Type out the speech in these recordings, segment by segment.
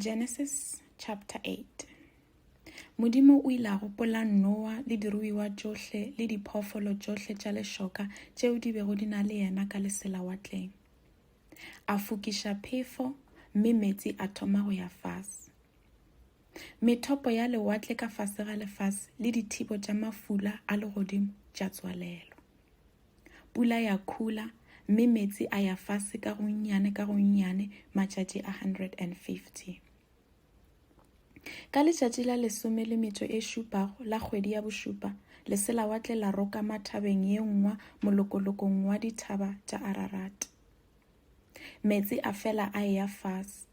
Genesis chapter 8 Modimo o ile a gopola Noa le diruiwa tšohle le diphoofolo tšohle tša lešoka tšeo di bego di na le yena ka leselawatleng. A fokiša phefo, mme meetse a thoma go ya fase. Methopo ya lewatle ka fase ga lefase le dithibo tša mafula a legodimo tša tswalelwa. Pula ya khula, mme meetse a ya fase ka gonnyane ka gonnyane matšatši a 150. Ka letšatši la lesome le metšo e šupago la kgwedi ya bošupa, leselawatle la roka mathabeng ye nngwa molokolokong wa dithaba tša Ararat. Meetse a fela a eya fase,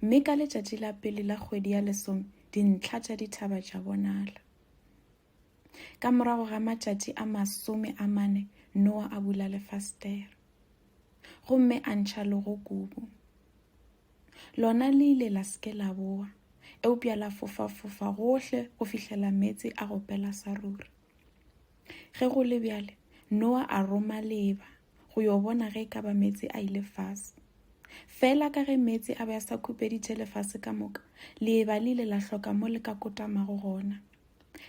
mme ka letšatši la pele la kgwedi ya lesome dintlha tša dithaba tša bonala. Ka morago ga matšatši a masome a mane, Noa a bula lefastere. Gomme a ntšha logo kubu. Lona le ile la seke la boa, eupša la fofa-fofa gohle go fihlela meetse a go pela sa ruri. Ge go le bjale, Noa a roma leba go yo bona ge e ka ba meetse a ile fase. Fela ka ge meetse a be a sa khupeditše lefase ka moka, leba le ile la hloka mo le ka kotamago gona.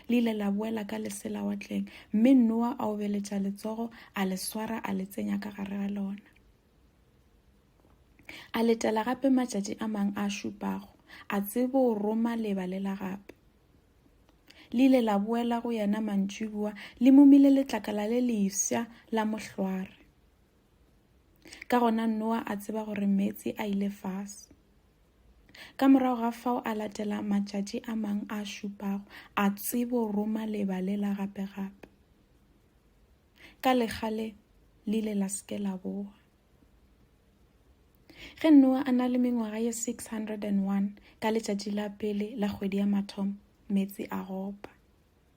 le ile la boela ka lesela watleng mme noa a obeletša letsogo a le swara a le tsenya ka gare ga lona a letela gape matšatši a mang a šupago a tsebo o roma leba le la gape le ile la boela go yena mantšibua le momile letlakala le lefsa la mohlware Ka gona Noa a tseba gore meetse a ile fase. Ka morago ga fao a latela matšatši a mang a šupago, a tsebo roma leba le la gape-gape. Ka legale le ile la seke la boa. Ge Noa a na le mengwaga ye 601 ka letšatši la pele la kgwedi ya mathomo, meetse a gopa.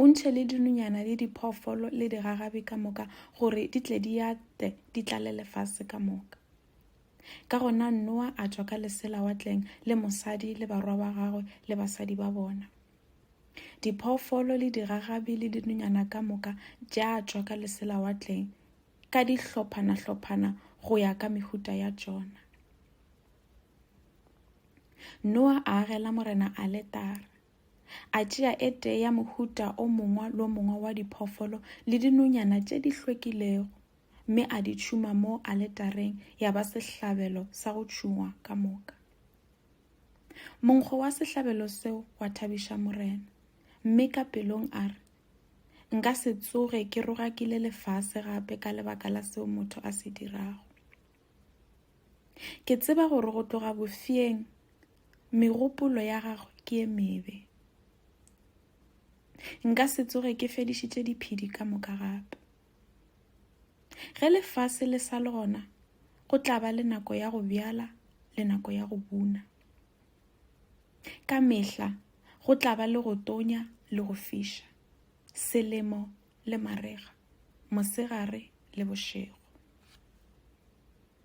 O ntšhe le dinonyana le diphoofolo le digagabi ka moka gore di tle di ate di tlale lefase ka moka. Ka gona Noa a tšwa ka lesela watleng le mosadi le barwa ba gagwe le basadi ba bona. Diphoofolo le digagabi le dinonyana ka moka tša tšwa ka lesela watleng ka dihlophana-hlophana go ya ka mehuta ya tšona. Noa a agela morena aletara. A tšea e tee ya mohuta o mongwe lo mongwe wa diphoofolo le dinonyana tše di hlwekilego, mme a di tšhuma mo aletareng ya ba sehlabelo sa go tšhungwa ka moka. Monkgo wa sehlabelo seo wa thabiša Morena, mme ka pelong a re, Nka se tsoge ke rogakile lefase gape ka lebaka la seo motho a se dirago. Ke tseba gore go tloga bofeeng megopolo ya gagwe ke e mebe. Nka se tsoge ke fedišitše diphedi ka moka gape. Ge lefase le sa le gona, go tla ba le nako ya go bjala le nako ya go buna. Ka mehla go tla ba le go tonya le go fiša. Selemo le marega, mosegare le bošego.